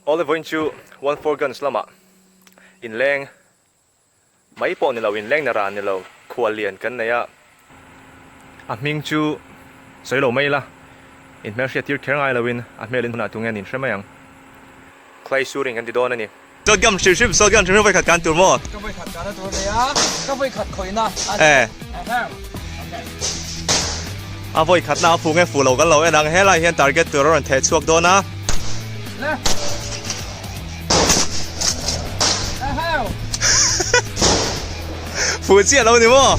Olivoin chu one four guns lama in leng mai pawh ni lo in leng na ran ni lo khual lian kan nei a a hming chu sawi lo mai la in hmel hriat tir kher ngai lo in a hmel in hun ah tunge nin hre mai ang. Clay Suring kan ti dawn a ni. Sodium hrim hrim, Sodium hrim hrim vawikhat kan tur maw? Ka vawikhat kan a tur nia, ka vawikhat khawina a ni. Eh. A vawikhatna a fuh nge fuh lo kan lo en ang, helai hian target tur a rawn theh chhuak dawn a. Fuh chiah lo ni maw?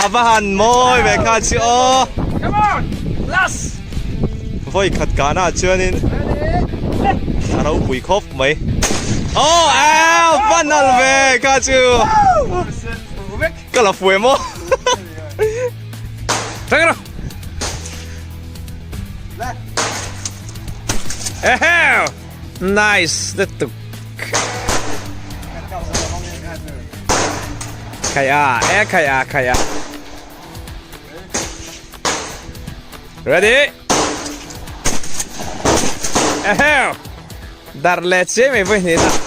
a va han mawi ve kha chi o come on last voi khat ka na chuan in a ro pui khop mai o a va nal ve kha chu kala fuem o Tang ra. Ehe. Nice lutuk Khai a e khai a khai a Ready Eheu Dar le che mai voi ni na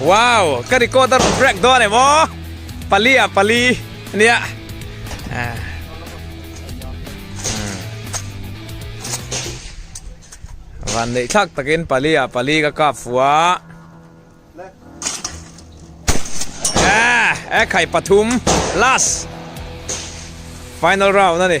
Wow ka recorder rawn break dawn em aw pali ah pali ania ah. van nei thlak takin pali ah pali ka kap fua ah e khai pathum last final round ani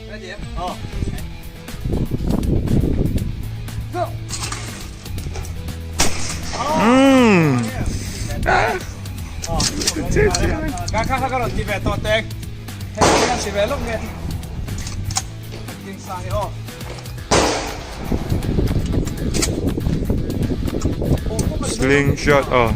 Sling shot oh.